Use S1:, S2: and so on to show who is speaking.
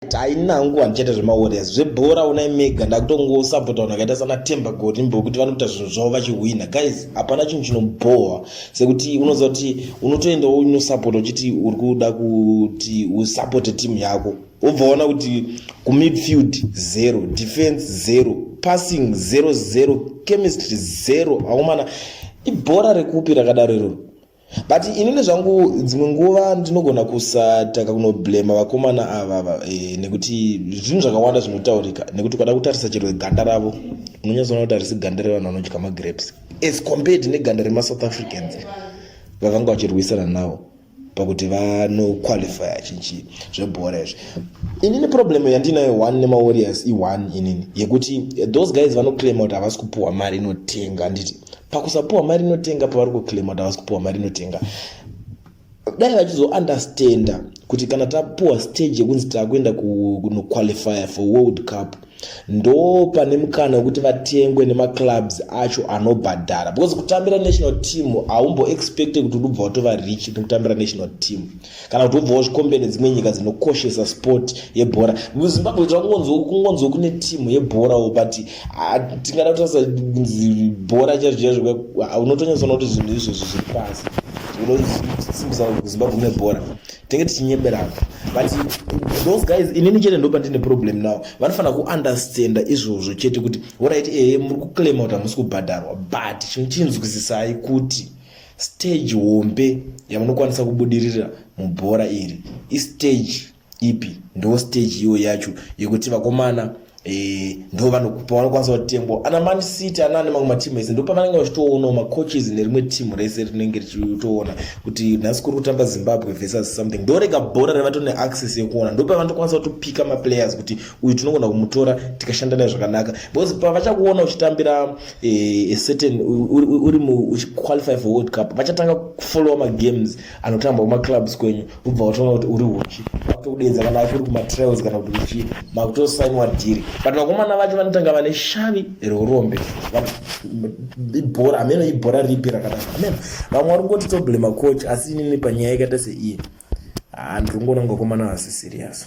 S1: tainangu handichaita zvemawarriors zvebhora unai mega ndakutongosapota vanhu vakaita sana temba gorimbo kuti vanokuita zvinhu zvavo vachihwina guys hapana chinhu chinobhohwa sekuti unoziva kuti unotoendawo unosapota uchiti uri kuda kuti usapote timu yako wobvaona kuti kumidfield zero defense zero passing zero zero chemistry zero aumana ibhora rekupi rakadaro iroro but inini zvangu dzimwe nguva ndinogona kusataka kunoblema vakomana ava e, nekuti zvinhu zvakawanda zvinotaurika nekuti ukada kutarisa chero ganda ravo unonyatsoona kuti harisi ganda revanhu vanodya magrapes as compared neganda remasouth africans vavanga vachirwisana navo pakuti vanoqualifya chinchi zvebhora izvi inini problem yandinayo one nemawarriors i-one inini yekuti those guys vanoclaima kuti havasi kupuhwa mari inotenga handiti pakusapuwa mari inotenga pavari kuclaima kuti havasi kupuwa mari inotenga dai vachizounderstanda kuti kana tapuwa stage yekunzi takuenda kunoqualifya for world cup ndo pane mukana wekuti vatengwe nemaclubs acho anobhadhara because kutambira national team haumboexpecte kuti unobva watova rich nekutambira national team kana kuti wobva wazvikombera nedzimwe nyika dzinokoshesa sport yebhora muzimbabwe kungonzwa kune timu yebhorawo but ah, tingada kutarisa kunzi bhora chaizvo chaizvo ah, unotonyatsoona kuti zvinhu izvozvo zviri pasi unosimbisa zimbabwe mune bhora tenge tichinyeberana but those guys inini chete ndopa ndine problem now vanofanira kuunderstanda izvozvo chete kuti orit ehe muri kuclaima kuti hamusi kubhadharwa but chinochinzwisisai kuti Stage hombe yamunokwanisa kubudirira mubhora iri istage ipi? Ndo stage iyo yacho yekuti vakomana Eh, ndo vanokwanisa kutengwa ana man city ana ane mamwe matimu ese ndo pavanenge vachitoonawo macoaches nerimwe timu rese rinenge richitoona kuti nhasi kuri kutamba zimbabwe versus something ndorega bhora revato neaccess yekuona ndo pavanotokwanisa kutopika maplayers kuti uyu tinogona kumutora tikashanda naye zvakanaka because pavachakuona uchitambira Eh, a certain uri uchiqualify for world cup vachatanga kufollowa magames anotambwa kumaclubs kwenyu vobva vatoona kuti uri uchi vakutokudeedza kana vati uri kumatrials kana kuti uchii makutosainiwa dhiri but vakomana vacho vanotanga vane shavi reurombe ibhora ameno ibhora ripi rakadaro ameno vamwe vari kungoti toblema coach asi inini panyaya yakaita seiyi handiri kungoona ngokomana vasi serious